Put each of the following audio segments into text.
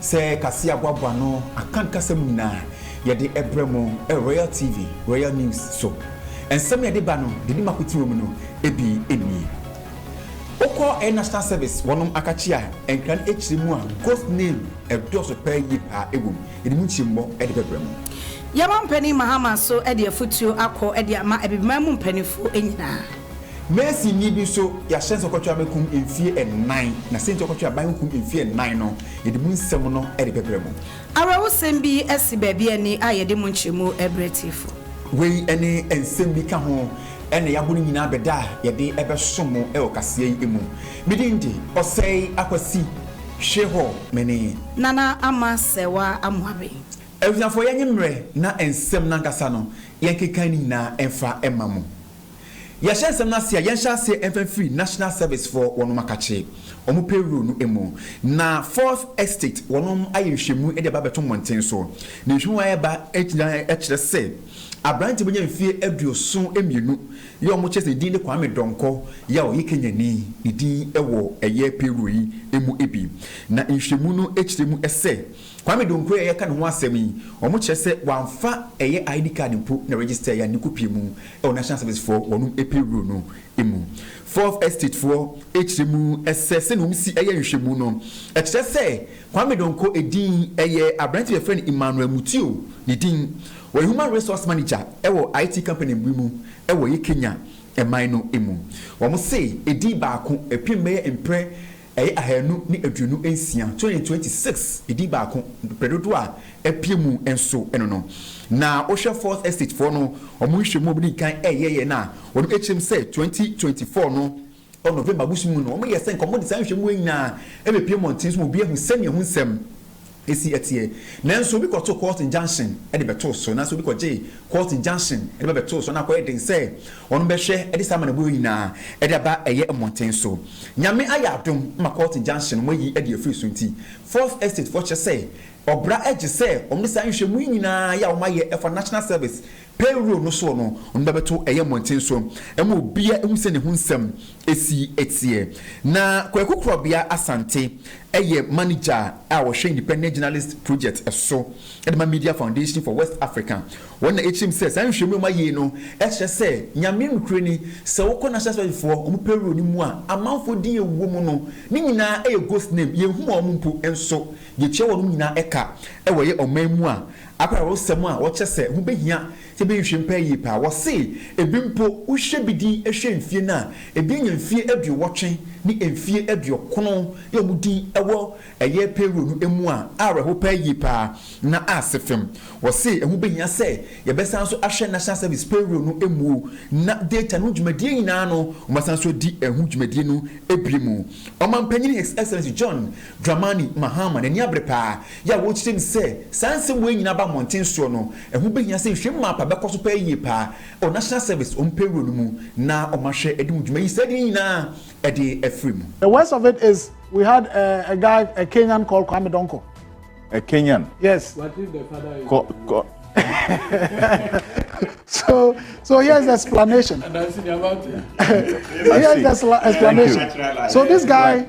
Sɛ kaseɛ aboaboa no aka ne kasa mu nyinaa, yɛde ɛbrɛ mo Royal TV, Royal News so. Nsɛm a yɛde ba no deɛ ɛdi mako ti wɔ mu no ɛbi nie. Wokɔ ɛyɛ National Service wɔnom akakye a, nkra no ɛkyerɛ mu a Ghost name ɛdɔɔso paa yie paa ɛwɔ mu. Yɛde mu nkyerɛmu ɛde bɛbrɛ mo. Yɛma Mpanin Mahama nso de afutuo akɔ de ama Abibiman mu mpaninfoɔ nyinaa. Masonni bi nso, yɛahyɛ no sɛ ɔkɔtwe aban kum mfeɛ nnan, na sɛnti a ɔkɔtwe aban ho kum mfeɛ nnan no, yɛde mu nsɛm no rebɛbrɛ mo. Awerɛhosɛm bi asi baabi ani a yɛde mu nkyerɛmu rebrɛ atiefo. Wei ne nsɛm bi ka ho na yɛabɔ ne nyinaa bɛ da a yɛde bɛsom mo wɔ kaseɛ yi mu. Me din de, Ɔsɛe Akwasi Hwehɔ Mene. Nana Ama Sɛwa Amoaben. Abusuafoɔ yɛnye mmerɛ na nsɛm no ankasa no yɛnkeka ne nyinaa mfa mma mo. Yɛhyɛ nsɛm no ase a, yɛnhyɛ aseɛ mfa mfiri National Service foɔ wɔnom akakye wɔn payroll no mu, na Fourth Estate wɔnom ayɛ nhwɛmu de aba abɛto mmɔnten so. Na nhwɛmu a ɛreba nyinaa kyerɛ sɛ aberanteɛ a wanya mfeɛ aduoson mmienu yi a wɔkyerɛ sɛ ne din de Kwame Donkor yi a ɔyɛ Kenyani, ne din wɔ ɛyɛ payroll yi mu bi. Na nhwɛmu no kyerɛ mu sɛ Kwame Donkor a yɛreka ne ho asɛm yi, wɔkyerɛ sɛ wɔamfa ɛyɛ ID card mpo na register yɛ a ne kopie mu wɔ National Service foɔ wɔnom payroll no mu. Fourth Estate foɔ kyerɛ mu sɛ sɛnea wɔsi yɛ nhwɛmu no kyerɛ sɛ Kwame Donkor din yɛ aberante bi a yɛfrɛ no Emmanuel Mutio ne din. Ɔyɛ Human Resource Manager wɔ IT company bi mu wɔ yɛ Kenya man no mu. Wɔse din baako pem bɛyɛ mprɛ Ɛyɛ ahanu ne aduonu nsia, twenty twenty six, edin baako, brɛ dodoɔ a apue mu nso no no. Na wo hwɛ fourth estate foɔ no ɔmo nhwɛmu a ɔmo di kan ɛyɛ yɛ no a, ɔno ɛkyerɛm sɛ twenty twenty four no ɔ November bosomi mu no ɔmo yɛ sɛ nka ɔmo de saa nhwɛmu wei nyinaa ɛbɛ pue mmɔnten so ma obiara ahu sɛnea ho nsɛm si teɛ. Nanso obi kɔtoo court injunction de bɛtoo so, anaasɛ obi kɔgyee court injunction de ba bɛtoo so, na akɔyɛ den sɛ wɔn bɛhwɛ de saa amanneɛbɔ yi nyinaa de aba ɛyɛ mmɔnten so. Nyame ayɛ adom ma court injunction wɔayi de afiri so nti, Fourth Estate foɔ kyerɛ sɛ ɔbra gye sɛ wɔn de saa nhwɛmu yi nyinaa yɛ a wɔayɛ fa National Service Payroll no soɔ no, ɔno bɛbɛto ɛyɛ mmɔnten so ma obiara ahu sɛ ne ho nsɛm si teɛ. Na Kwaku Korɔbea Asante yɛ Manager a ɔhwɛ Independent Journalist Project so de ma Media Foundation for West Africa. Wɔn na ɛkyerɛ mu sɛ saa nhwehwɛmu a wɔayei no kyerɛ sɛ Nyame nokorɛ ni, sɛ wokɔ National Service foɔ wɔn payroll no mu a, amanfoɔ din a ɛwɔ mu no ne nyinaa yɛ ghost name, yɛnhu wɔn mpo nso, yɛtua wɔnom nyinaa ka wɔ ɛyɛ ɔman mu a Akwayawrosɛm a wɔkyɛ sɛ ɛho behia sɛ yebehwehwɛ mu paa yiye paa. Wɔse ebi mpo, wohwɛ bi din hwɛ mfie no a, ebi anya mfie aduowɔtwe ne mfie aduokron na wɔn din wɔ ɛyɛ payroll no mu a awerɛhow paa yiye paa. Na ase fam, wɔse ɛho behia sɛ yɛbɛsan nso ahwɛ National Service payroll no mu na data no ho dwumadie nyinaa no wɔasan nso adi ɛho dwumadie no bio mu. Ɔmanpanyin His Excellency John Dramani Mahama n'ani abere paa Yɛ a wɔrekyerɛ mu sɛ saa nsɛm wei nyinaa aba mmɔnten soɔ no, ɛho bɛhia sɛ nhwehwɛmu mapa bɛkɔ so paa yie paa wɔ National Service wɔn payroll no mu na wɔahwɛ de ho dwuma yi saa de no nyinaa de afiri mu. The worst of it is we had a a guy a Kenyan called Kwame Donkor. A Kenyan? Yes. What if the father is? Co co so so here's the explanation. here's the explanation. So this guy.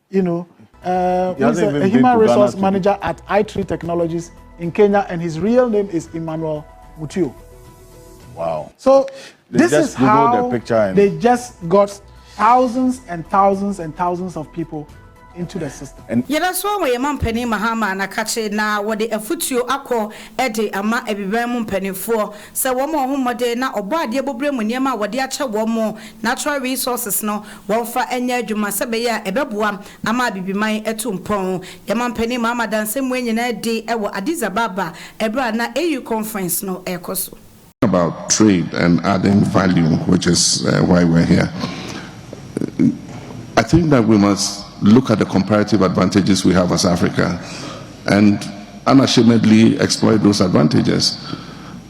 You know, uh, he's a, a human resource manager at i3 Technologies in Kenya, and his real name is Emmanuel Mutio. Wow. So they this is how the they just got thousands and thousands and thousands of people into the system. yɛda so wɔ yɛn mampanin mahama anakakye na wɔde afutuo akɔ de ama abiban mu mpanimfoɔ sɛ wɔn a wɔn mmɔden na ɔbɔ adeɛ bɔberɛ mu nneɛma a wɔde akyɛ wɔn natural resources no wɔmfa nyɛ adwuma sɛ ɛbɛyɛ a ɛbɛboa ama Abibiman atu mpɔn. Yɛn mampanin maa m'adanse mmoa nyinaa adi wɔ Addis Ababa bere a na AU conference no rekɔ so. about trade and adding value which is why we're here. I think that we must look at the comparative advantages we have as Africa and unashamedly exploit those advantages.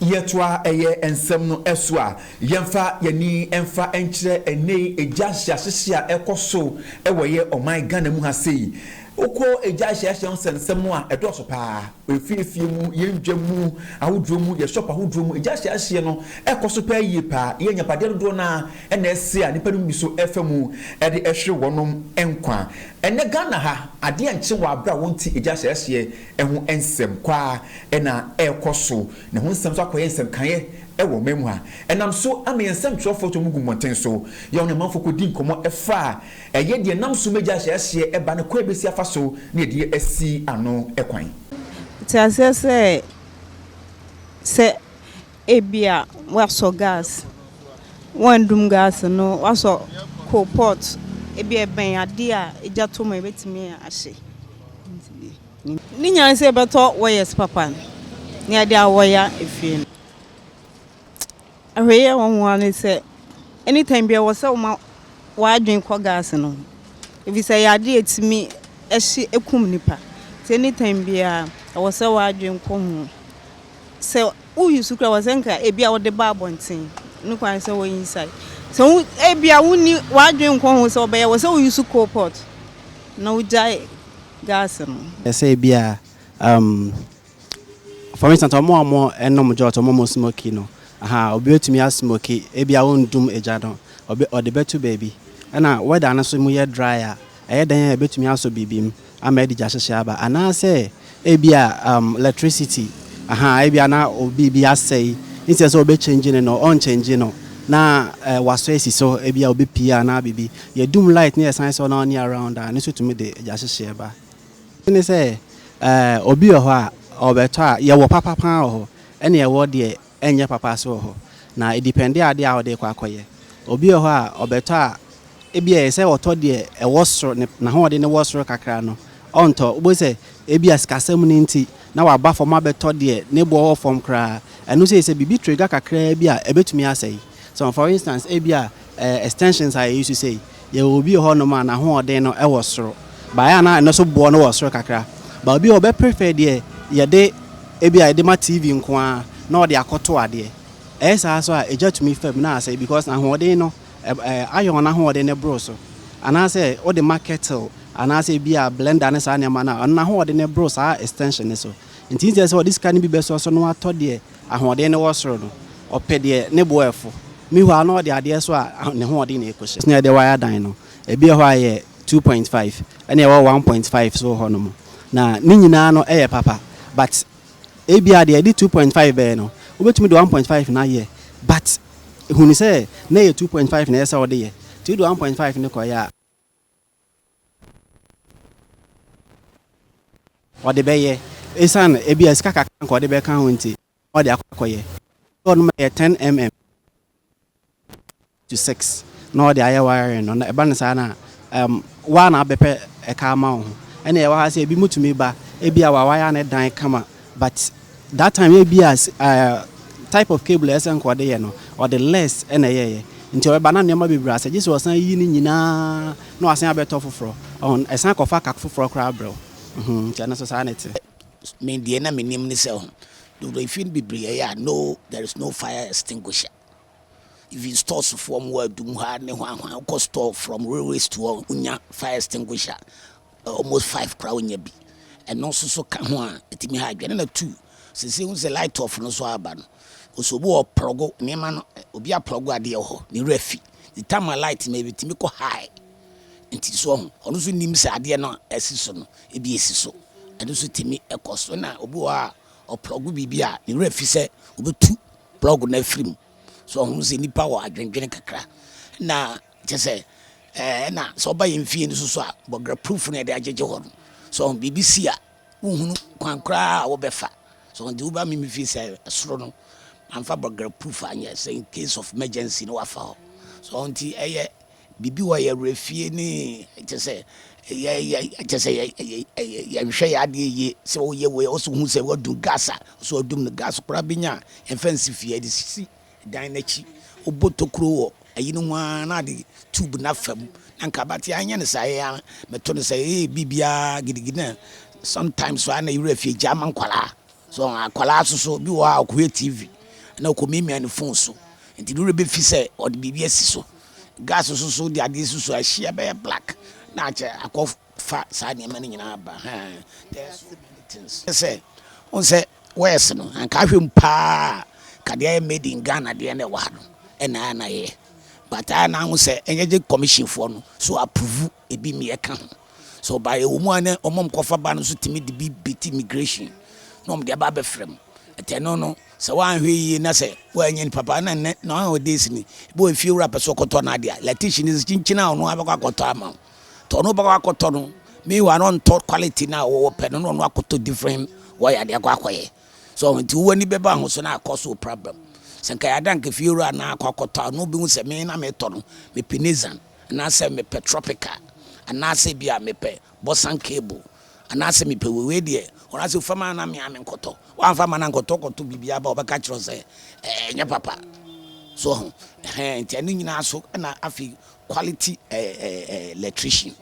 Yɛtoa ɛyɛ nsɛm no so a, yɛmfa y'ani mfa nkyerɛ ɛnɛyi egya nhyeahyehye a ɛkɔ so wɔ yɛ ɔman Ghana mu ha sei. Wokɔ egya nhyeahyehye ho sɛnsɛm no a, ɛdɔɔso paa. Efie efie mu, yɛ ndwa mu ahodoɔ mu, yɛ shop ahodoɔ mu, egya nhyeahyehye no ɛkɔ so paa yie paa. Yɛ agyapadeɛ dodoɔ no ara na ɛse a nnipa no mu bi so ɛfa mu ɛde ɛhwere wɔnom nkwa. Ɛnɛ Ghana ha, adeɛ nkye wɔ abere a wɔnte egya hyɛɛhyeɛ. ho nsɛm kɔ ara na ɛrekɔ so, na ɛho nsɛm nso akɔyɛ nsɛm kaeɛ wɔ ɔman mu ha. Ɛnam so ama yɛn nsɛmtwerɛfoɔ tumi gu mmɔnten so, yɛ wɔn amanfoɔ kɔdi nkɔmmɔ fa ɛyɛ deɛ ɛnam so ma gya ahyɛ aseɛ ba ne kwan a ɛbɛsi afa so ne ɛdeɛ asi ano kwan. Te aseɛ sɛ, sɛ Ebia woasɔ gas, woannum gas no, woasɔ coal pot, ebia ɛbɛn adeɛ a egya tɔ mu a ebetumi ahye. Ne nyinaa ne sɛ yɛbɛtɔ wɔyɛs papa no na yɛde awɔya efie no. Ahwɛyie a ɛwɔ ho ara ne sɛ, anytime biara ɛwɔ sɛ woma w'adwene kɔ gas no ho efisɛ ɛyɛ adeɛ a etumi hye kum nipa nti anytime biara ɛwɔ sɛ w'adwene kɔ ho. sɛ wo use kura wɔ sɛ nka ebi a wode ba abɔnten no kwan sɛ wɔ inside sɛ wo ebi a wonni w'adwene nkɔ ho sɛ ɔbɛyɛ wɔ sɛ wo use coal pot na wogyae gas no. Sɛ ebi a um, for instance ɔmo a ɔmo nom jot ɔmo ɔmo smoki no aha obi betumi asmoki ebi a wondum egya no ɔde bɛto baabi ɛna weather no so mu yɛ dry a ɛyɛ dɛn a ebetumi asɔ biribi mu. ama adi gya hyehye aba anaasɛ ebia um electricity ahaa ebia na biribi asɛe nti ɛsɛ sɛ ɔbɛ change ne no ɔn change no na eh, wasɔ esi so ebia ɔbɛ pii anaa biribi yɛ dum light ne yɛsan sɔ na ɔne around a ne so tumi de gya hyehye ɛba ne sɛ eh, obi wɔ hɔ a ɔbɛtɔ a yɛwɔ papa paa wɔ hɔ ɛne ɛwɔ deɛ ɛnyɛ papa ase wɔ hɔ, na edipɛnde ade a wode rekɔ akɔyɛ. Obi wɔ hɔ a, ɔbɛtɔ a, ebia ɛyɛ sɛ ɔtɔ deɛ ɛwɔ soro, ne, n'ahoɔden no wɔ soro kakra no, ɔntɔ. Wobɛhu sɛ ebia sikasɛm no nti, na waba fam abɛtɔ deɛ ne boɔ wɔ fam koraa. Ɛno nso yɛ sɛ biribi trigger kakraa bi a ɛbɛtumi asɛe. So, for instance, ebia Ɛɛ extensions a yɛ use sei, yɛwɔ obi wɔ hɔ nom a n'ahoɔden no wɔ soro, but ɛyɛ a na ɛno nso boɔ no wɔ soro kakra, but obi wɔ hɔ ɔbɛ prefer deɛ yɛde ebi a yɛde ma TV nko ara na ɔde akɔ to adeɛ, ɛyɛ saa nso a egya tumi fa mu na asɛe because n'ahoɔden no ɛɛ iron no ahoɔden no boro so, anaasɛ wode ma kettle anaasɛ ebi a blender ne saa nneɛma no a ɛno n'ahoɔden no boro saa extension no so, nti instead sɛ ɔde sika no bi bɛsɔ so na watɔ deɛ Ahoɔden no wɔ soro no, ɔpɛ deɛ ne bo ɛfo. Mihɔ a na ɔde adeɛ so a ne hoɔden na ɛkɔ hyɛ. Na yɛde wire dan no. Ebi wɔ hɔ a ɛyɛ two point five ɛna ɛwɔ one point five nso wɔ hɔ nom. Na ne nyinaa no yɛ papa but ebi a deɛ yɛde two point five bɛyɛ no wobɛtumi de one point five no ayɛ but hunu sɛ na ɛyɛ two point five na ɛsɛ sɛ wode yɛ nti wode one point five no kɔyɛ a ɔde bɛyɛ esiane ebia sika kakra nka ɔde bɛka ho nti na ɔde akɔ akɔyɛ sɛ ɔnom yɛ ten mm to six na ɔde ayɛ wiring no na ɛba no saa na um, waa na abɛpɛ ɛka ama wo ho ɛna ɛwɔ ha sɛ ebi mutumi ba ebia wawaya ne dan kama But that time ebia eh, type of cable a ɛsɛ nka ɔde yɛ no ɔde less ɛna ɛyɛɛyɛ nti ɔbɛba na nneɛma bebree asɛ gye sɛ ɔsan yi ne nyinaa na wasan abɛtɔ foforɔ ɔho ɛsan kɔfa kak foforɔ koraa brɛ wo mhm nti ɛno so saa na ɛte. Me deɛ na menim ne sɛ ho, dodo efie no bebree ɛyɛ a no there is no fire extinguisher. Even stores foɔ ɔmo wɔ adum hɔ a ne hwanhwan wokɔ store from railway store wonya fire extinguisher almost five koraa wonya bi ɛno nso so ka ho a ɛtumi ha adwene na two sese wohu sɛ light off no so aba no ɔsɛ obi wɔ plɔgo nneɛma no obi aplɔgo adeɛ wɔ hɔ ne werɛ fi the time a light no ɛtumi kɔ high nti so ɔho ɔno nso nim sɛ adeɛ no asi so no ebi esi so ɛno nso tumi ɛkɔ so na obi wɔ hɔ a ɔplɔgo biribi a ne werɛ fi sɛ obetu plug no afiri mu so ɔho sɛ nipa wɔ adwendwene kakra na kyɛ sɛ eh, ɛna sɛ ɔba yɛn fie no soso a bɔgra proof no yɛde agyegye hɔ no so ɔho biribi si a wohunu kwan koraa a wobɛfa so nti woba me me fie sɛ soro no amfa bɔgra proof anyɛ sɛ in case of emergency no wafa hɔ so ɔho nti ɛyɛ Biribi wɔ yɛn werɛ fie ne kyɛ sɛ yɛ yɛ kyɛ sɛ yɛ yɛ yɛnhwɛ yɛ adeɛ yie sɛ woyɛ wei ɔsɛ wohu sɛ woadum gas a ɔsɛ wadum no gas koraa bi nya a ɛmfa nsi fie ɛde sisi dan no akyi wobɔ tokuro wɔ ayi no ho ara na ade tube no afa mu na nka abate anyɛ no saa yɛ ara meto no sɛ ee biribiara gidigidi na sometimes so a na yɛwerɛ fie gya ma nkwaraa so akwaraa so so bi wɔ hɔ a ɔkɔhwɛ tv na ɔkɔmimia ne fon so nti ne werɛ bɛfi sɛ ɔde biribi asi so Gas nso so wode adeɛ si so a ɛhye ɛbɛyɛ black na akyɛ akɔ fa saa nneɛma no nyinaa ba hɛn there are so many things sɛ wɔn sɛ wɔyɛs no anka ahwɛ mu paa ka deɛ ayɛ made in Ghana deɛ na ɛwɔ ha no ɛna ayɛ na yɛyɛ but ayɛ na ho sɛ ɛnyɛ gye commission foɔ no so approve ebi mmea ka ho. Sɛ ɔbae a, ɛwɔ mu ara na wɔn a wɔkɔfa ba no nso tumi de bi beti immigration na wɔde aba abɛfra mu. Ɛte ɛno no, sɛ woanhwɛ yiye na sɛ woannya nipa pa ara na nnɛ nowadays ni, ebi wɔ efiewura pɛ sɛ ɔkɔtɔ n'ade a, latish no kyinkyin a ɔno ara bɛkɔ akɔtɔ ama wo. Nti ɔno bɛkɔ akɔtɔ no, meanwhile na ɔntɔ quality no a wɔpɛ no na ɔno akɔtɔ different wire de akɔ akɔyɛ. So nti wo w'ani bɛba ho so na akɔso wo problem. Sɛ nka yɛada nka efiewura na akɔ akɔtɔ a, na obehu sɛ me na metɔ no, mepɛ Nissan. Anaasɛ mepɛ tropical anaasɛ ebia mepɛ bosan cable anaasɛ mepɛ wei wei deɛ wɔn asɛ fa ma na mea menkɔtɔ wamfa ma no ankɔtɔ wokɔtɔ biribi aba a wɔbɛka akyerɛ wo sɛ ɛnyɛ papa so ho ɛhɛn nti ɛno nyinaa so ɛna afei quality ɛɛ ɛɛ electrician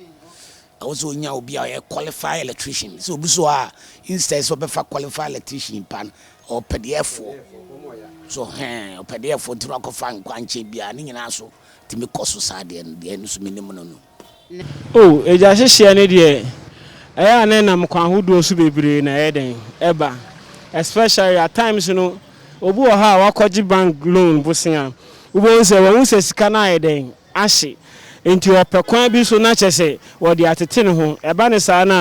Ɛwɔ sɛ onya obi a ɔyɛ qualified electrician. Sɛ obi so a, instead sɛ ɔbɛfa qualified electrician pa no, ɔpɛdeɛfoɔ. So hɛn, ɔpɛdeɛfoɔ nti na wakɔfa nkwankyɛn bi a ne nyinaa so tumi kɔ so saa deɛ no, deɛ ɛno nso menim no no. O, agya hyehyeɛ no deɛ, ɛyɛ a na ɛnam kwan ahodoɔ so bebree na ɛyɛ dɛn? Ɛba. Especially at times no, obi wɔ hɔ a wakɔgye bank loan bosea, wobɛhu sɛ wahu sɛ sika no ayɛ dɛn? ahye. Enti ɔpɛ kwan bi so na kyerɛ sɛ wɔde atete ne ho. Ɛba no saa no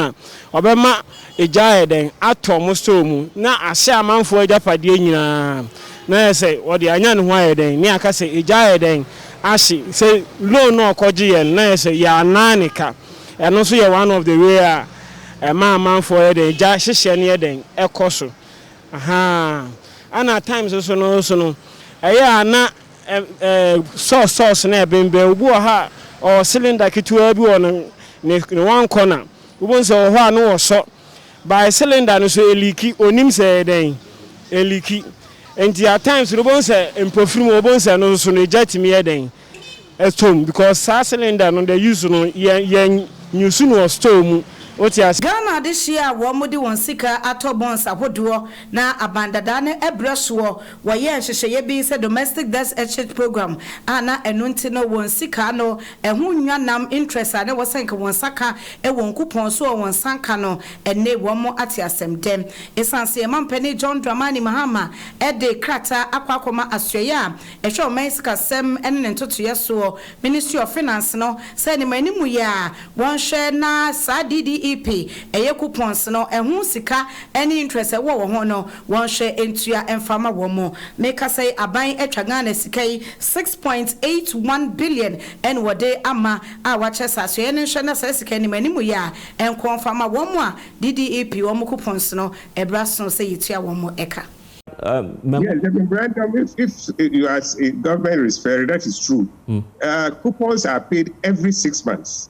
a, ɔbɛma egya ayɛ dɛn? Atɔ mo store mu, na ahye amanfoɔ agyapadeɛ nyina ara, na ayɛ sɛ ɔde anya ne ho ayɛ dɛn? Ne aka sɛ, Egya ayɛ dɛn? Ahye. Sɛ loan no a ɔkɔgyeeɛ no, na ayɛ sɛ yɛannan ne ka. Ɛno nso yɛ one of the way a ɛma amanfoɔ yɛ dɛn? Egya hyehyɛ no yɛ dɛn? Ɛkɔ so. Ahaa. Ɛna at times nso no nso no, ɛyɛ a na Ɛɛ, sɔs sɔs na ɛbembɛn. Obi wɔ ha a, ɔwɔ cylinder ketewaa bi wɔ ne ne ne one corner. Wobɛhu sɛ ɔwɔ hɔ a na ɔsɔ. By cylinder no so ɛliiki, ɔnnim sɛ ɛyɛ dɛn, ɛliiki. Nti at times no wobɛhu sɛ mpofiri mu, wobɛhu sɛ ɛno nso no egya tumi yɛ dɛn, ɛtɔ mu because saa cylinder no the use no yɛ yɛ use no wɔ store mu. Wote aseɛ? Ghana adehyeɛ a wɔde wɔn sika atɔ bonds ahodoɔ na aban dadaa no brɛ soɔ Wɔyɛɛ nhyehyɛeɛ bi sɛ domestic desk exchange program a na ɛno nti no wɔn sika ano ɛho nnwa nam interest a na ɛwɔ sɛ nka wɔn nsa ka wɔ nkupɔn so a wɔn nsa nka no ɛnne wɔn ate asɛm dɛ ɛsiane sɛ yɛn mampanin John Dramani Mahama de krataa akɔ akɔma asoɛeɛ a ɛhwɛ ɔman sikasɛm ne ne ntotoeɛ soɔ ministry of finance no sɛ animanimuyɛ a wɔnhwɛ na saa DDEP ɛyɛ coupons no ɛho sika ne interest a ɛwɔ wɔ ho no Wɔnhwɛ ntua mfa mma wɔn mo. Mekasa yi aban atwa Ghana sika yi six point eight one billion ɛna wɔde ama a wakyɛ sɛ asoɛeɛ no nhwɛ na saa sika yi nim anim yɛ a ɛnkɔ mfa mma wɔn mo a DDEP wɔn mo coupons no ɛberɛ aso sɛ yɛtua wɔn mo ɛka. Yes the memorandum if if you as a government is fair that is true coupons are paid every six months.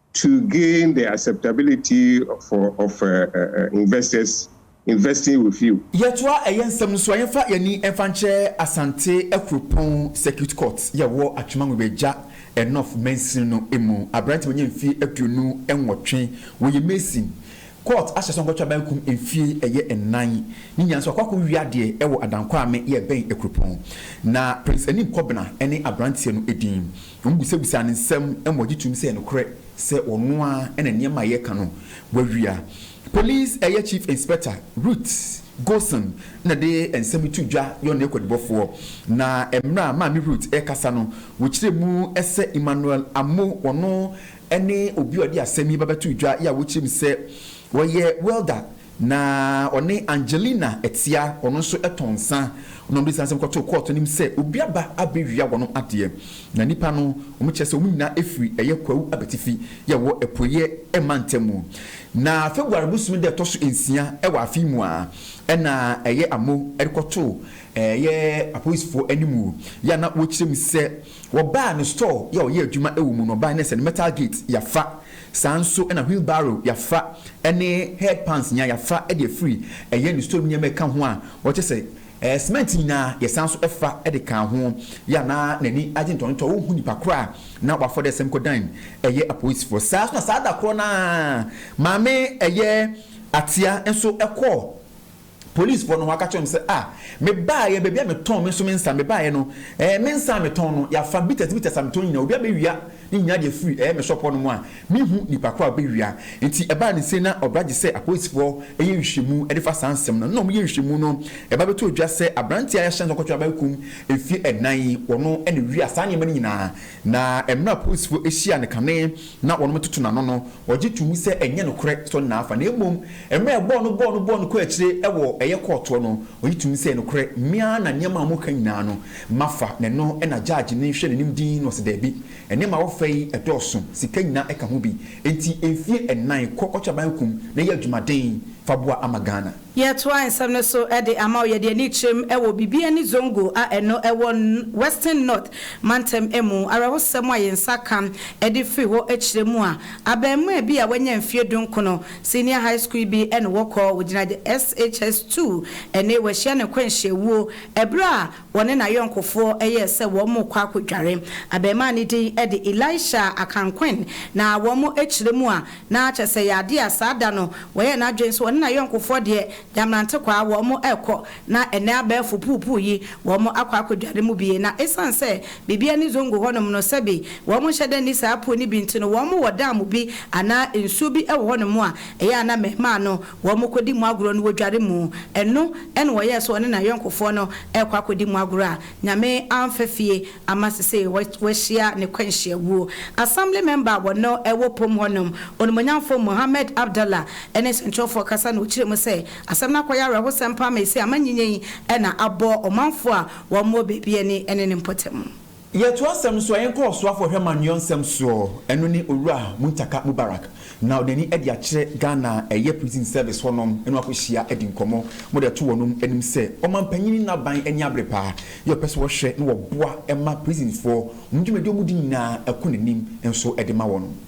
To gain the acceptability for of investors investing with you. Yɛtoa ɛyɛ nsɛm no so a, yɛmfa yɛn ani mfa nkyerɛ Asante Akuropɔn Circuit Court yi a ɛwɔ Atwemangogo Agya Enough mansini no mu. Aberante a wanya mfeɛ aduonu nwɔtwe, ɔyɛ mason. Court ahyɛ sɛ wɔnkɔtwe abankum mfeɛ ɛyɛ nnan. Ne nyinaa nso wakɔ akɔwie adeɛ wɔ Adankwame yi a ɛbɛn Akuropɔn. Na Prince Anim Kɔbena ne aberanteɛ no din. na wɔbisabisaa no nsɛm ma ɔgye toom sɛ ɛyɛ nokorɛ sɛ ɔno ara na nneɛma a yɛreka no wawia. Polis Ɛyɛ Chief Inspector Ruth Gosen na ɛde nsɛm yi too dwa yɛ ɔne akwadibɔfoɔ, na mmerɛ a Maame Ruth rekasa no, wɔkyerɛɛ mu sɛ Emmanuel Amoh, ɔno ne obi a ɔde asɛm yi ba bɛtoo dwa yɛ a wɔkyerɛɛ mu sɛ ɔyɛ welder Na ɔne Angelina Atia, ɔno nso tɔn nsa, na wɔde saa nsɛm kɔtoo kɔɔto no mu sɛ obi aba abɛwia wɔnom adeɛ. Na nnipa no, wɔkyerɛ sɛ wɔn nyinaa firi ɛyɛ Kwawu abatifi yɛ ɛwɔ Apueɛ mantam mu. Na February bosome da ɛtɔ so nsia wɔ afe yi mu a ɛna ɛyɛ Amo de kɔtoo ɛyɛ apolisifoɔ anim yɛ a na wɔkyerɛ mu sɛ wɔbaa ne store yɛ a ɔyɛ adwuma wɔ mu no, ɔbaa ne sɛ ne metal gate yɛafa. Saa nso na wheelbarrow yafa ne head pans nyinaa yafa de afiri ɛyɛ ne store mu nneɛma ɛka ho a wɔkyɛ sɛ ɛɛ cement nyinaa yɛsan nso ɛfa de kaa ho. Yɛ a na n'ani agye ntɔnotɔ ɔnhu nipa koro a na wafɔ dɛ sɛm kɔdan ɛyɛ apolisifoɔ. Saa nso na saa da korɔ no ara maame ɛyɛ Atia nso ɛkɔɔ. Polisfoɔ no hɔ aka kyerɛ no sɛ, Ah, mebaaeɛ, baabi a metɔn me nso me nsa, mebaaeɛ no, ɛɛ, me nsa a metɔn no, yɛafa bitters, bitters a metɔn nyinaa, obi abɛwia ne nyinaa de afiri, ɛɛ, me shop hɔ nom a, menhu nipa korɔ a ɔbɛwia. Nti ɛbaa ne sei na ɔbra gye sɛ apolisfoɔ yɛ nhwehwɛmu de fa saa nsɛm no. Nna wɔyɛ nhwehwɛmu no, ɛba bɛtɔɔ dwa sɛ abranteɛ a yɛahyɛ no sɛ ɔnkɔtwɛn abaɛkum mfie nnan yi, ɔno na ɔwia saa nneɛma no nyinaa. Na mmerɛ a polisfoɔ hyiaa no kane, na wɔtoto n'ano no, ɔgye to mu sɛ ɛnyɛ nokorɛ sɛ ɔne n'afa, na mmom mmerɛ ɛbɔɔ no bɔɔ no bɔɔ no kɔɔ akyire wɔ ɛyɛ kɔɔtoɔ no, ɔgye to mu sɛ nokorɛ me ara na nneɛma a moka nyinaa no mafa, na ɛno na gyaagy no hwɛ n'anim dinn na ɔse daabi, nneɛma a wɔfa yi ɛdɔɔso, sika nyinaa ɛka ho bi, enti mfie nnan kɔ Ɔtweaban kum na yɛ adwumaden fa boa ama Ghana. Yɛtoa nsɛm no so de ama wo. Yɛde ani kyerɛm wɔ Bibia ne Zongo a ɛno wɔ Western North mantam mu. Awerɛhosɛm a yɛn nsa ka de firi hɔ kyerɛ mu a, abarimaa bi a wanya mfeɛ dunkono, senior high school bi ne wɔkɔ, wɔgyina the SHS 2 ne wahyia ne nkwanhyia wuo berɛ a Wɔne n'ayɔnkofoɔ yɛɛ sɛ wɔrekɔ akɔdware. Abarimaa no din de Elisha Akankwin, na wɔn kyerɛ mu a, na kyerɛ sɛ ɛyɛ adeɛ a saa da no wayɛ n'adwene sɛ ɔne n'ayɔnkofoɔ deɛ, Nyamrantekwaa, wɔrekɔ, na ɛnnɛ abɛɛfo puupuu yi, wɔakɔ akɔdware mu bie. Na ɛsiane sɛ Bibie ani Zongo hɔnom no, sɛbe wɔnhyɛ da nni saa puo no bi nti no, wɔwɔ dam bi anaa nsuo bi wɔ hɔnom a ɛyɛ a na mmarimaa no Wɔkɔdi mu agorɔ no wɔdware mu. Ɛno na ɔyɛɛ sɛ ɔne n'ayɔnkofoɔ no rekɔ akɔdi mu agorɔ a Nyame amfa fie ama sesei wahyia ne kwanhyia wuo. Assembly member a wɔno wɔ pom hɔ nom, Onimonyamfoɔ Mohammed Abdallah ne sɛnkyerɛwfoɔ kasa na ɔkyerɛ mu sɛ asɛm no akɔyɛ awerɛhosɛm paa ma ɛsei amanyinya yi na abɔ ɔmanfoɔ a wɔn wɔ baabi ani ne ne mpɔtam. Yɛto asɛm no so a, yɛnkɔ Ɔsoafo Ɔhwɛmma Nweɔnsɛm soɔ, ɛno ne Owura Muntaka Mubarak, na ɔde n'ani adi akyerɛ Ghana a ɛyɛ Prison Service hɔ nom, ɛne wɔn akɔhyia adi nkɔmmɔ, mode ato wɔnom anim sɛ Ɔmanpanyin no aban ani abere paa, yɛ ɔpɛ sɛ wɔhwɛ na wɔboa ma Prisonfoɔ, wɔn dwumadi a wɔdi nyinaa ɛkɔ n'anim nso de ma wɔnom.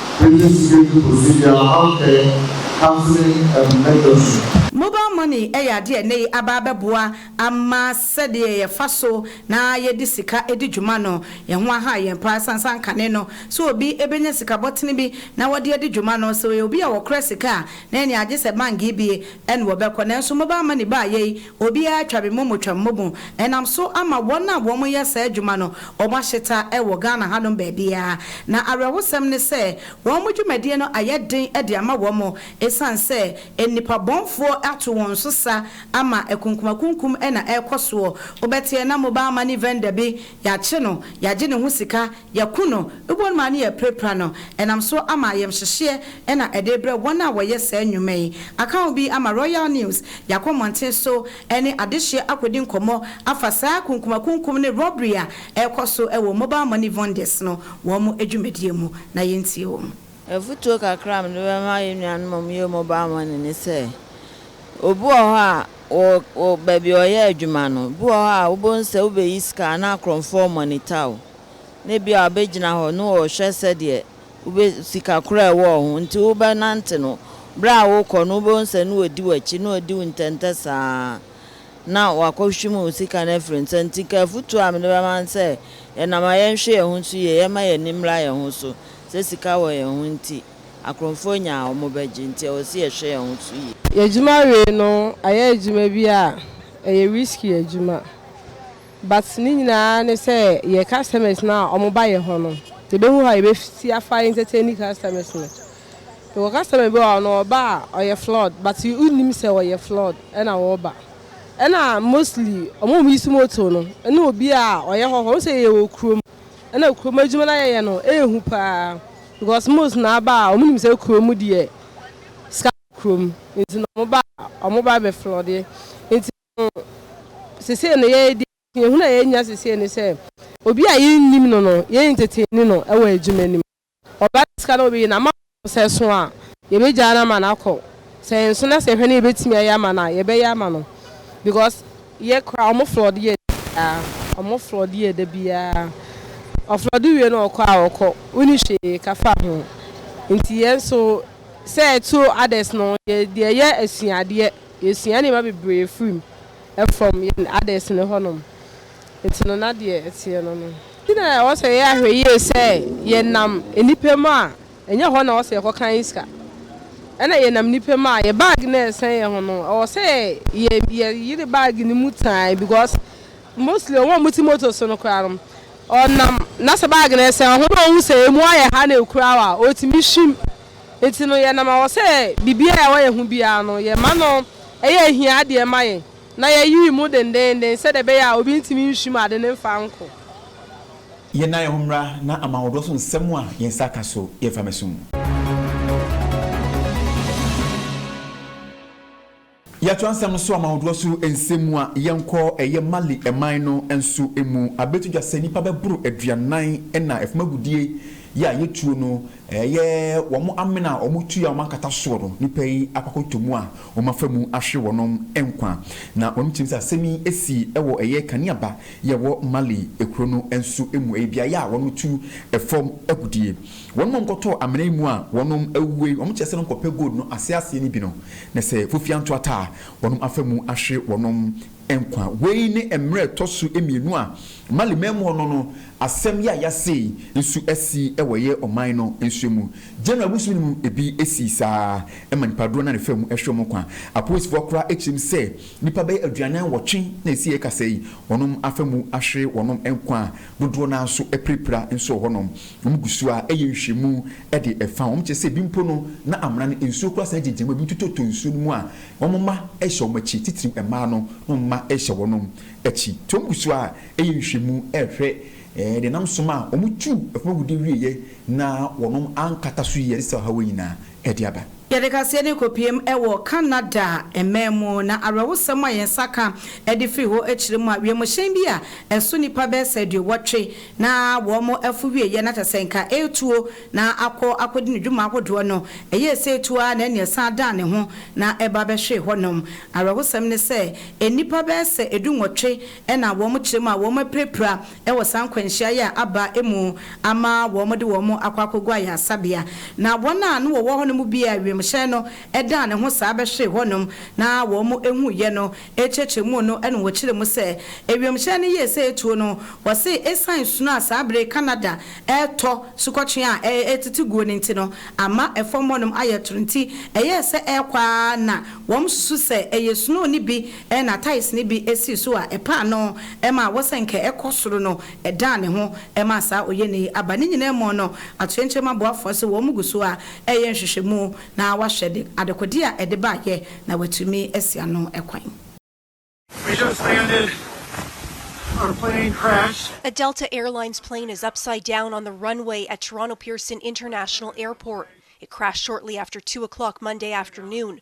Pagye sika bi kɔsi deɛ Ahamkɛ, Katherine M. Mendelson. Mobile money yɛ adeɛ a nnɛyi aba abɛboa ama sɛdeɛ yɛfa so na yɛde sika di dwuma no, ɛho aha yɛn paa ɛsiane sɛ kane no sɛ obi bɛnya sika bɔtene bi na ɔde adi dwuma no, sɛ ɔyɛ obi a ɔkora sika a na ɛneɛ agye sɛ bank bie na ɔbɛkɔ nanso mobile money baeɛ yi, Obiara twa me momotwa me momo ɛnam so ama wɔn a wɔn yɛ saa adwuma no wɔn ahyeta wɔ Ghana hanom baabiara na awerɛhosɛm ne sɛ wɔn mo dwumadie no ayɛ den de ama wɔn ɛsiane sɛ nnipa bɔnfoɔ ato wɔn so sa ama akunkumakunkum na ɛrekɔ soɔ wobɛteɛ na mobile money vendor bi yɛakye no yɛagye ne ho sika Yɛko no, ebɔn mu a ne yɛrepirapira no, ɛnam so ama ayamhyehyeɛ na ɛde rebrɛ wɔn a wɔyɛ saa nnwuma yi. Aka ho bi ama Royal News yɛakɔ mmɔnten so ne adehyeɛ akɔdi nkɔmmɔ afa saa kunkumakunkum ne robbery a ɛrekɔ so wɔ mobile money vendors no wɔn dwumadie mu. Na yɛntie wɔn. Afutuo kakra a mede bɛma yɛn nuanom a wɔyɛ mobile money ne sɛ, obi wɔ hɔ a wɔ wɔ baabi a ɔyɛ adwuma no, ebi wɔ hɔ a wobɛhu sɛ wobɛyi sika a na akorɔmfoɔ monitor wo. na ebia ɔbɛgyina hɔ na ɔrehwɛ sɛdeɛ wobɛ, sika korɔ a ɛwɔ wo ho nti wobɛnante no, berɛ a worekɔ no wobɛhu sɛ na ɔdi w'akyi, na ɔdi wo ntɛntɛ saa ara na wakɔhwim wo sika no afiri wo nsa. Nti nka afotuo a mede bɛma ne sɛ, yɛnam a yɛnhwɛ yɛn ho so yie, yɛmma yɛn ani mmra yɛn ho so, sɛ sika wɔ yɛn ho nti akorɔmfoɔ nya a wɔbɛgye, nti ɛwɔ sɛ yɛhwɛ yɛn ho so yie. Yɛn adwuma wei no ayɛ adwuma bi a ɛyɛ risky adwuma. But ne nyinaa ne sɛ yɛ customers no a wɔba yɛ hɔ no, yɛbɛhu how yɛbɛsi afa entertain customers no. Yɛwɔ customer bi wɔ hɔ no, ɔba a ɔyɛ flawed but wonnim sɛ ɔyɛ flawed ɛna wɔba. Ɛna mostly wɔn a wɔuse motor no ne obi a ɔyɛ hɔhɔ. Wohu sɛ yɛwɔ kurom ɛna kurom adwuma no a yɛyɛ no ɛhu paa because most no ara ba a wɔnim sɛ kurom deɛ sika wɔ kurom nti na wɔba a wɔba bɛflawde nti So sesei no yɛyɛ deɛ suahunu a yɛnya sesei ne sɛ obi a yɛnnim no no yɛn ntetee ni no wɔ adwuma nim ɔba ne sika na ɔbɛyi no ama no no sɛ so a yɛbɛgyaa no ama no akɔ sɛ nso na sɛ hwɛ no yɛbɛtumi ayɛ ama no a yɛbɛyɛ ama no because yɛ koraa ɔmo flɔɔde yɛ da biaa ɔmo flɔɔde yɛ da biaa ɔflɔɔde wie no ɔkɔ a ɔkɔ woni hwee ka fa ho nti yɛn so sɛ to others no yɛ deɛ yɛ asuadeɛ Yɛsua nneɛma bebree firi mu, ɛfam yɛn adesene hɔ nom, nti no na deɛ ɛteɛ no no. Nti na ɛwɔ sɛ yɛyɛ ahwɛyie sɛ yɛnam nnipa mu a, ɛnyɛ hɔ na ɛwɔ sɛ yɛkɔ kan yi sika, ɛna yɛnam nnipa mu a, yɛn baage no a ɛsɛn yɛn ho no, ɛwɔ sɛ yɛ yɛ yere baage no mu tan because mostly wɔn a wɔte motor so no koraa no, ɔnam na sɛ baage no ɛsɛn ho na ɔhu sɛ ɛmu ayɛ ha na ɛkura wo a, ɔtumi hwim. Ntsi no, yɛnam awɔ sɛ biribiara a ɛwɔ yɛn ho biara no, yɛma no yɛ ahiadeɛ ma yɛn, na yɛyere mu dendeenden sɛdeɛ ɛbɛyɛ a obi ntumi nhwim ade no mfa nkɔ. Yɛnna yɛn ho mmra na ama ahodoɔ so nsɛm a yɛn nsa ka so yɛmfa mmɛso mu. Yɛtoa nsɛm no so ama ahodoɔ so nsɛm mu a, yɛnkɔ ɛyɛ Mali man no nso mu. Abɛto dwa sɛ nnipa bɛboro aduanan na ɛfam agudie yi a yɛtuo no, ɛyɛ wɔn amena a wɔn tua a wɔn ankata soɔ no, nnipa yi akɔ akɔtɔ mu a wɔn afa mu ahwe wɔn nkwa. Na wɔn tirim sɛ asɛm yi asi wɔ ɛyɛ Kaniaba yi a ɛwɔ Mali kuro no nso mu, ɛyɛ beaeɛ a wɔtu fam agudie. Wɔnom a wɔkɔtɔɔ amena yi mu a wɔnom awuo yi, wɔkyerɛ sɛ no nkɔpɛ gold no aseɛ aseɛ no bi no, na sɛ fofia nto ata a, wɔnom afa mu ahwe wɔnom nkwa. Wei ne mmerɛ a ɛtɔ so mmienu a Mali man mu hɔ no no asɛm yi a yɛase yi nso asi wɔ yɛ ɔman no nso mu. January bosome no mu ebi sii saa ara ma nnipa dodoɔ no ara na ɛfaa mu hwe wɔn nkwa. Apolisifoɔ koraa kyerɛm sɛ nnipa bɛyɛ aduanan nwɔtwe na ɛsiiɛ kasa yi wɔnom afa mu ahwe wɔnom nkwa a Dodoɔ no ara nso apirapira nso wɔ hɔnom. Wɔgu so ara yɛ nhwehwɛmu de fa wɔn. Kyerɛ sɛ, ebi mpo no, na amena no nsuo koraa san gyinagyina mu a ebi nso totɔ nsuo no mu a wɔn mma hyɛ wɔn akyi, titiriw mmaa no, na wɔn mma hyɛ wɔn akyi. Nti wɔgu so ara yɛ nhwehwɛmu rehwɛ nea ɛnam so ma wɔtuu fam agudeɛ wieeɛ na wɔn ankata so yie, ɛde saa ɔhaw yi nyinaa de aba. Yɛde kaseɛ no rekɔpiem wɔ Canada mmɛn mu, na awerɛhosɛm a yɛn nsa ka de firi hɔ kyerɛ mu a, wiemhyɛn bi a ɛso nnipa bɛyɛ sɛ aduowɔtwe na wɔafo wieeɛ na kyerɛ sɛ nka ɛretuo na akɔ akɔdi ne dwuma ahodoɔ no, ɛyɛɛ sɛ ɛtu ara na ɛnna ɛsan dan ne ho na ɛba bɛhwee hɔnom. Awerɛhosɛm ne sɛ, nnipa bɛyɛ sɛ du-nwɔtwe na wɔkyerɛ mu a wɔapirapira wɔ saa nkwanhyia yi a aba mu ama wɔde wɔn akɔ akɔgu ayaresabea, na wɔn a na wɔwɔ hɔ no mu bi a wiemhyɛn no daa ne ho saa bɛhwee hɔnom na wɔhuiɛ no kyerɛkyerɛ mu no na wɔkyerɛ mu sɛ wiemhyɛn no yɛɛ sɛ ɛtuo no, wɔse ɛsiane sunu a saa bere Canada ɛretɔ, sukɔtwea a ɛretete guo no nti no ama fam hɔnom ayɛ toro nti ɛyɛɛ sɛ ɛrekɔ ara na wɔsusu sɛ ɛyɛ snow no bi Ɛnna tiles no bi sii so a ɛpaa no ma awɔ sɛ anka ɛkɔ soro no dan ne ho maa saa oyɛni yi. Aba ne nyinaa mu no, atoyerɛnkyɛm aboafoɔ se wɔn gu so ara reyɛ nhwehwɛmu na wɔahwɛ de adekodeɛ a ɛde baeɛ na wɔatumi asi ano kwan. We just landed. Our plane crashed. A Delta Air Lines plane is upside down on the runway at Toronto Pearson International Airport. It crashed shortly after two o'clock Monday afternoon.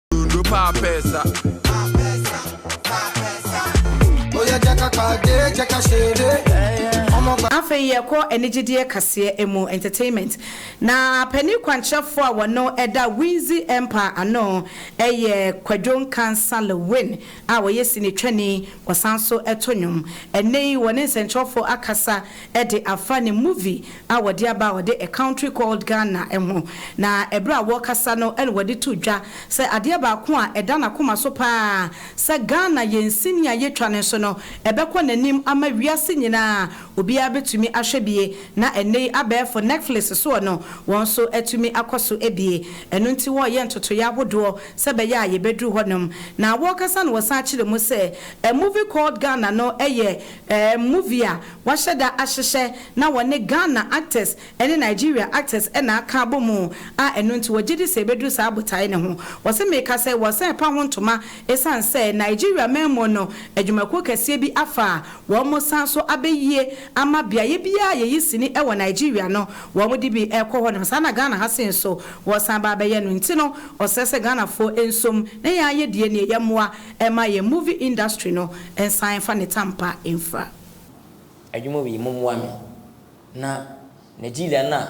Dondro pa pesa. Oya jaka kade jaka shere. afei yɛkɔ anigyedeɛ kaseɛ mu entertainment na panin kwankyerɛfoɔ a wɔno ɛda winzi empire ano ɛyɛ kwadwo nkansa lewin a ɔyɛ sini twani ɔsan so ɛto nnwom ɛnɛ yi wɔne nsɛnkyerɛfoɔ akasa ɛde afa ne movie a wɔde aba a wɔde A Country Called Ghana ho, na bere a wɔrekasa no na wɔde too dwa sɛ adeɛ baako a ɛda n'akoma so pa ara sɛ Ghana yɛn sini a yɛtwa no so no bɛkɔ n'anim ama wiase nyina ara obiara bɛtumi ahwɛ bie na ɛnnɛ yi abɛɛfo Netflix soɔ no wɔn nso atumi akɔ so abie ɛno nti wɔreyɛ ntotoeɛ ahodoɔ sɛ ɛbɛyɛ a yɛbɛduru hɔnom na wɔrekasa no wɔsan kyerɛ mu sɛ A Movie Called Ghana no yɛ Eh movie a wahyɛ da ahyehyɛ na wɔne Ghana actors ne Nigeria actors na aka abɔ mu a ɛno nti wɔgye di sɛ ɛbɛduru saa botae no ho. Wɔse meka sɛ wɔsan ɛpa ho ntoma ɛsiane sɛ Nigeria man mu no adwumakuo kɛseɛ bi afa a wɔn san so abɛyie ama beaeɛ biara a yɛyi sini wɔ Nigeria no wɔn de bi rekɔ hɔ na saa na Ghana ha se nso wɔresan aba abɛyɛ no nti no ɔsɛ sɛ Ghanafoɔ nsom na yɛn ayɛ deɛ nie yɛmmoa Ɛma yɛn movie industry no nsan nfa ne tampa nfra. Adwuma wei mo mmoa me na Nigeria no a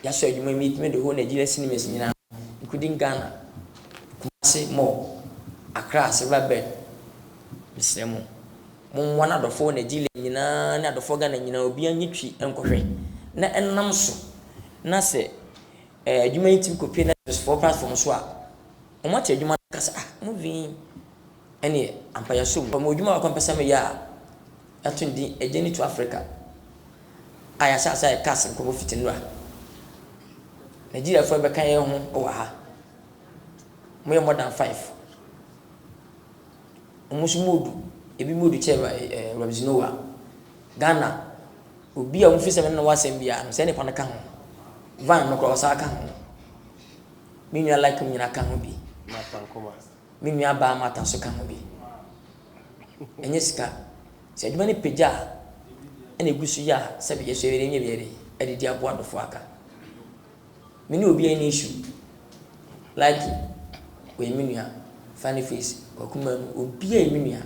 yasɔ adwuma yi metumi de hɔ Nigeria cinemas nyinaa including Ghana Kumasi mall Accra silver bed mesrɛ mo mo mmoa na adɔfoɔ Nigeria nyinaa ne adɔfoɔ Ghana nyinaa obiara nye twi nkɔ hwɛ na ɛnam so na sɛ ɛɛ adwuma yi tumi kɔ pie Netflix foɔ platform so a. Wɔate adwuma no aka sɛ, Ah, movie yi, ɛnneɛ, ampa yɛasɔ mu. Mewɔ adwuma baako a mepɛ sɛ meyɛ a yɛato no din A Journey to Africa, a yɛahyɛ aseɛ ayɛ cast nkurɔfoɔ fiti nnora. Nigeriafoɔ a yɛbɛka yɛn ho wɔ ha, wɔyɛ more than five. Wɔn nso wɔredu, ebi bɛdu kyɛ eh, Robinson Owa. Ghana, obi a wɔmfiri sɛ me ne no wɔ asɛm biara no, sɛ nnipa no ka ho. Van no koraa, ɔsan ka ho. Me nua Lakum nyina ka ho bi. Me nua baa Martha nso ka ho bi. Ɛnyɛ sika. Sɛ adwuma no pagya a, ɛna egu so yɛ a sɛbi yɛ so yɛyɛ nyɛ yɛ de adidi aboa adɔfo aka. Me ne obiara nni issue. Lakum, ɔyɛ me nua. Funny face, Kwaku Manu, obiara yɛ me nua.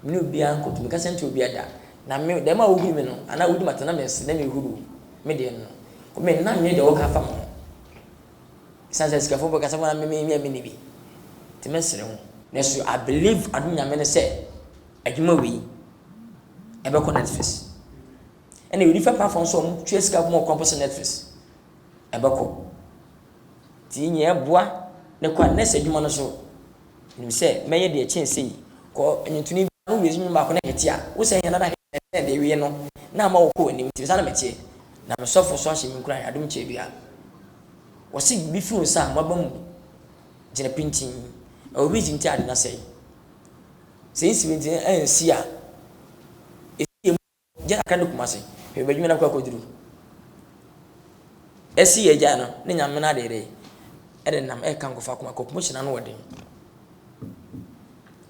Me ne obiara nkɔ to, me kasa ntia obiara da. Na me, dɛm a wohuri me no, anaa wodi m'atɛn na mese dɛ mehuri wo, me deɛ no, me nna nyɛ deɛ wɔka afa me ho. Esiane sɛ asikafo bɔ kasa mu ara me hia me nni bi nti mɛsere ho. Nanso I believe adom Nyame no sɛ adwuma wei ɛbɛkɔ Netflix ɛna wei different platform nso a wɔn tua sika ma ɔkwan po sɛ Netflix ɛbɛkɔ. Nti nyɛ ɛboa ne kɔ a nurse adwuma no so nim sɛ mɛyɛ deɛ ɛkyɛn sei kɔ nwuntoni bi ano wei so nwunu baako na ɛte a wo sɛ hɛn ara hɛn ɛsɛn deɛ ɛwie no na ama wo kɔ w'anim nti me saa na mɛteɛ. Na me sɔfo so ahyɛ me nkuran, adom kyɛ dua. Wɔse biribi fi wo nsa a mmɔbɔ mu gyina pintinn, ɛwɔ bi nti ade no asɛe. Sɛ nsi me nti ansi a, ɛsi yɛ mu gya kakra ne Kumase, hwɛ baabi adwuma no akɔ akɔduru. Ɛsi yɛ gya no ne nyame no adeɛ dɛ, ɛde nam ɛka nkɔfo akoma kɔ, promotion ano ɔden.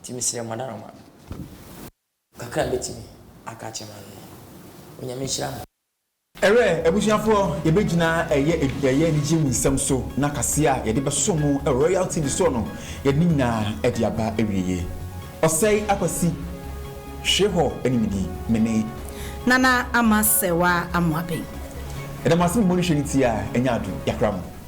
Nti mesrɛ mo adaroma. Kakra mɛtumi aka akyerɛ mo ano no. Onyame nhyira mo. Ɛwɛ abusuafoɔ yɛbɛgyina ɛyɛ ɛyɛ anigyeɛ mu nsɛm so na kaseɛ a yɛde bɛsom mo wɔ Royal TV soɔ no yɛde ne nyinaa ɛde aba awieɛ Ɔsɛe Akwasi hwe hɔ ne me di me ne. Nana Ama Sɛwa Amoaben. Yɛda mo ase me mmɔ ne hwɛ ne ti a ɛnyɛ ado yakra mo.